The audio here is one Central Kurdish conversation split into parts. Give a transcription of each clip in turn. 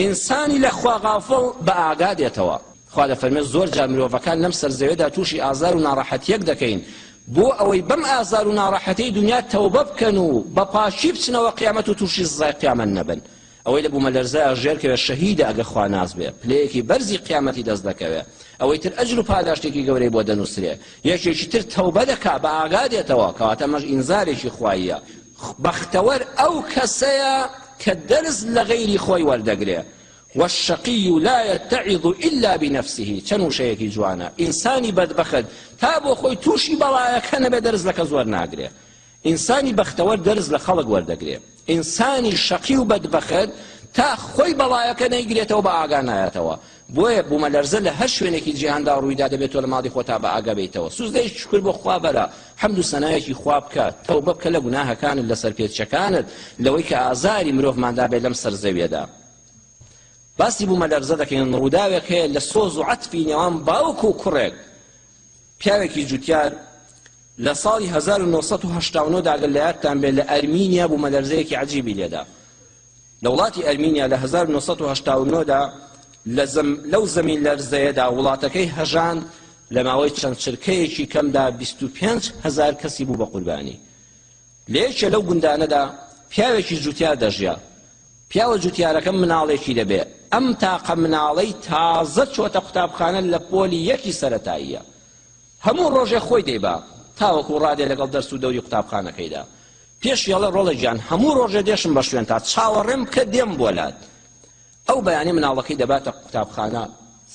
ئینسانی لە خوا غافڵ بە ئاگا دێتەوە. خوا دەفەرمێت زۆر جار مرۆڤەکان لەم سەر زەوێدا تووشی ئازار و ناڕەحەتیەک دەکەین بۆ ئەوەی بەم ئازار و ناڕەحەتیەی دونیا تەوبە بکەن و بە پاکی بچنەوە قیامەت و تووشی سزای قیامەت نەبن ئەوەی لە بومەلەرزەیا ژێر کەوێت شەهیدە ئەگەر خوا ناس بێ پلەیەکی بەرزی قیامەتی دەست دەکەوێ ئەوەی تر ئەجر و پاداشتێکی گەورەی بۆ دەنووسرێ یەکێکی تر تەوبە دەکا بە ئاگا دێتەوە کەواتە مەش ئینزارێکی خواییە بەختەوەر ئەو کەسەیە کە دەرس لە غەیری خۆی وەردەگرێ، والشقی لا یتعظ الا بنفسه، چەند وشەیەکی جوانە، ئینسانی بەدبەخت تا بۆ خۆی تووشی بەڵایەکە نەبێ دەرس لە کەس وەرناگرێ، ئینسانی بەختەوەر دەرس لە خەڵک وەردەگرێ، ئینسانی شەقی و بەدبەخت تا خۆی بەڵایەکە نەیگرێتەوە بە ئاگا نایەتەوە. بۆیە بومەلەرزە لە هەر شوێنێکی جیهاندا ڕوویدا دەبێت تۆ لە ماڵی خۆتا بە ئاگا بێیتەوە سوزدەی شوکر بۆ خوا بەرە حەمد و سەنایەکی خوا بکە تەوبە بکە لە گوناهەکانت لە سەرپێچەکانت لەوەی کە ئازاری مرۆڤماندا بێت لەم سەر زەویەدا باسی بومەلەرزە دەکەین ڕووداوێک هەیە لە سۆز و عەتفی نێوان باوک و کوڕێک پیاوێکی جوتیار لە ساڵی 1970 داگەر لە یادتان بێت لە ئەرمینیا بومەلەرزەیەکی عەجیبی لێدا لە وڵاتی ئەرمینیا لە هەزار و نۆ سەد و هەشتا و نۆ دا لە زەم لەو زەمین لەرزەیەدا وڵاتەکەی هەژان لە ماوەی چەند چرکەیەکی کەمدا بیست و پێنج هەزار کەسی بوو بە قوربانی لە یەکێ لەو گوندانەدا پیاوێکی جوتیار دەژیا پیاوە جوتیارەکە مناڵێکی دەبێ ئەم تاقە مناڵەی تازە چۆتە قوتابخانە لە پۆلی یەکی سەرەتاییە هەموو ڕۆژێ خۆی دەیبا تاوەکو ڕادێ لەگەڵ دەرس و دەوری قوتابخانەکەیدا پێش یەڵە ڕۆڵە گیان هەموو ڕۆژێ دێشم بە شوێنتا چاوەڕێم بکە دێم بۆ لات ئەو بەیانی مناڵەکەی دەباتە قوتابخانە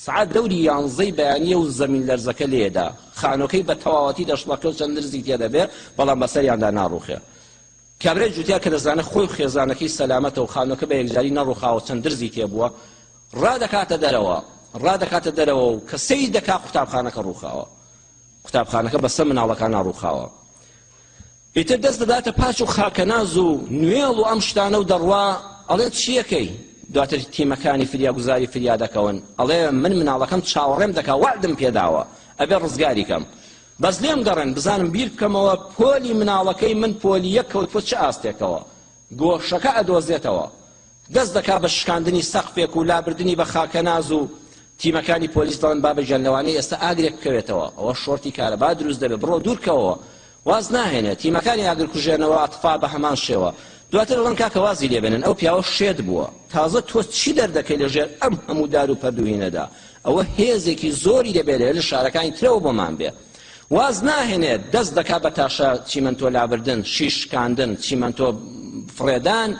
سعات دەوری یانزەی بەیانیە و زەمین لەرزەکە لێدا خانۆکەی بە تەواوەتی دەشڵەکە و چەند درزی تێدەبێ بەڵام بەسەریاندا ناڕوخێ کابرای جوتیا کە دەزانە خۆی و خێزانەکەی سەلامەتە و خانۆکە بە یەکجاری نەڕوخاوە چەند درزی تێبووە ڕادەکاتە دەرەوە ڕادەکاتە دەرەوە و کە سەی دەکا قوتابخانەکە ڕوخاوە قوتابخانەکە بەسە مناڵەکان ناڕوخاوە ئیتر دەست دەداتە پاچ و خاکەناز و نوێڵ و ئەم شتانە و دەڕوا ئەڵێ چیەکەی دواتر تیمەکانی فریاگوزاری فریادەکەون ئەڵێ من مناڵەکەم چاوەڕێم دەکا وعدم پێداوە ئەبێ ڕزگاری کەم بەس لێم گەڕێن بزانم بیر بکەمەوە پۆلی مناڵەکەی من پۆلی یەک کەوتوە چ ئاستێکەوە گۆشەکە ئەدۆزێتەوە دەست دەکات بە شکاندنی سەقفێک و لابردنی بە خاکەناز و تیمەکانی پۆلیس دەڵێن بابەگیان لەوانەیە ئێستا ئاگرێک بکەوێتەوە ئەوە شۆرتی کارەبا دروست دەبێت بڕۆ دوورکەوەوە واز ناهێنێت تیمەکانی ئاگرکوژێنەوە ئەتفا بە هەمان شێوە دواتر دەڵێن کاکە وازی لێبێنن ئەو پیاوە شێت بووە تازە تۆ چی دەردەکەی لەژێر ئەم هەموو دار و پەردوهینەدا ئەوە هێزێکی زۆری دەبێت لە شارەکانی ترەوە بۆمان بێ واز ناهێنێت دەست دەکات بە تاشە چیمەنتۆ لابردن شیش شکاندن چیمەنتۆ فڕێدان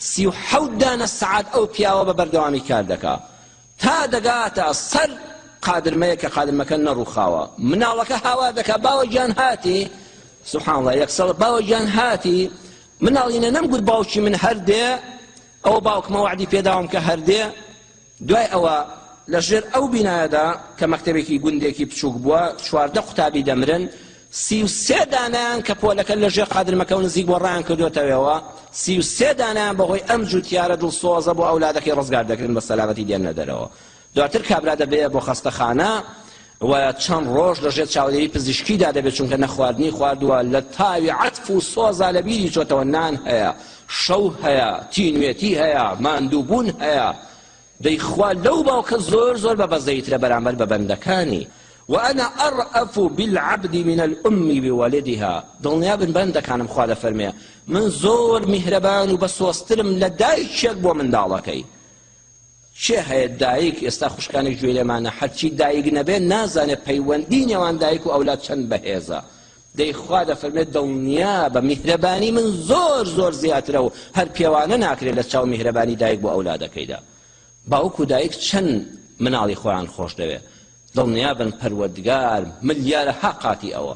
سی و حەوت دانە سعات ئەو پیاوە بە بەردەوامی کار دەکا تا دەگاتە سەر قادرمەیە کە قادرمەکە نەڕوخاوە مناڵەکە هاوار دەکا باوە گیان هاتی سبحان الله یەکسەڵ باوە گیان هاتی مناڵینە نەمگوت باوکی من هەردێ ئەو باوکمە وعدی پێداوم کە هەردێ دوای ئەوە لە ژێر ئەو بینایەدا کە مەکتەبێکی گوندێکی بچووک بووە، چواردە قوتابی دەمرن، سی و سێ دانەیان کە پۆلەکە لە ژێر قادرمەکە و نزیک بووە ڕایان کردۆتەوێەوە، سی و سێ دانەیان بە هۆی ئەم جووتیارە دڵسۆزە بۆ ئەولادەکەی ڕزگار دەکرێن بە سەلامەتی دێننە دەرەوە. دواتر کابرا دەبرێە بۆ خەستەخانە و چەند ڕۆژ لە ژێر چاودێری پزیشکیدا دەبێت چونکە نەخواردنی خواردووە لە تاوی عەتف و سۆزا لە بیری چۆتەوە نان هەیە شەو هەیە تینوێتی هەیە ماندووبوون هەیە دەی خوا لەو باوکە زۆر زۆر بە بەزەیترە بەرامبەر بە بەندەکانی وأنا أرأف بالعبد من الأم بولدها دڵنیا بن بەندەکانم خوا دەفەرمێ من زۆر میهرەبان و بەسۆزترم لە دایکێک بۆ منداڵەکەی کێ هەیە دایک ئێستا خوشکانێک گوێی لێمانە هەرچی دایک نەبێت نازانێت پەیوەندی نێوان دایک و ئەولاد چەند بەهێزە دەی خوا دەفەرمێت دڵنیابە میهرەبانی من زۆر زۆر زیاترە و هەر پێوانە ناکرێت لە چاو میهرەبانی دایک بۆ ئەولادەکەیدا باوک و دایک چەند مناڵی خۆیان خۆش دەوێت دڵنیابن پەروەردگار ملیارە ها قاتی ئەوە